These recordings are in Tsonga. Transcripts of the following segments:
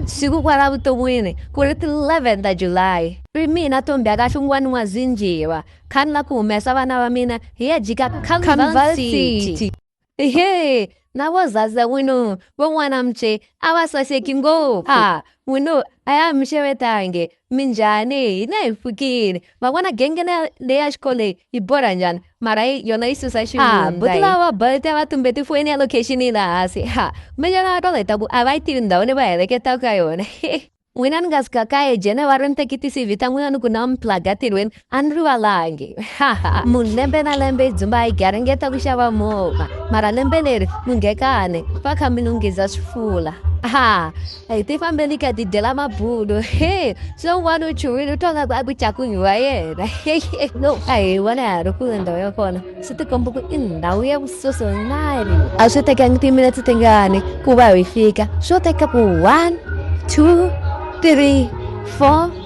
Siku kwala vutomwini ku ri 11 ta July, ri mina Tombi a ka hlungwani wa Zinjiva, khani la ku humesa vana va mina hi ya jika Carnival City. Hee, na vo Zaza n'wino, vo N'wana Mche a va saseki ngopfu. Ha, n'wino a ya ha mi xevetangi, Minjhani hina hi pfukile ma vona genge le ya xikoleni yi borha njhani mara yi yona yi susa xivundza lava bolt va tumbe tifoyini ya location yi la hansi ha minjhani va tolo hi ta ku a va yi tivi ndhawu leyi va heleketaka ka yona n'wina ni nga sika kaye jene va ri ni teki ti-cv ta n'wina ni ku na mi plaga tirhweni Andrew Alange, haha, mulembe na lembe dzimba igaringeta kushava mova, mara lembe leri mungekane paka minungiza swifula. Ha, ti fambeni ka ti dyela mabulo he so n'wana u chuhile u twaka ku a ku cakunyiwa yena no a hi vona ya ha ri kule ndhawu ya kona swi tikomba ku i ndhawu ya vusosonari a swi tekangi timinetse tingani ku va hi fika swo teka ku one two three four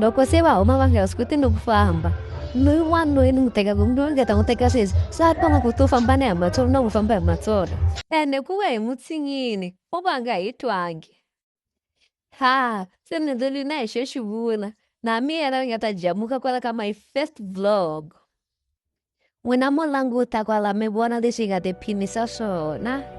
loko se va huma va nga swi koti ni ku famba loyi wanuna ni n'wi teka ku loyi nga ta n'wi teka sweswi swa tona ku to famba ni hi matsolo na n'wi famba hi matsolo ene ku ve hi mutsinyini u va nga hi twangi Ha, se ni ndluli na hi xo xi vula na miyela ni nga ta jamuka kwala ka my first vlog n'wina mo languta kwala mi vona leswi hi nga tiphinisa swona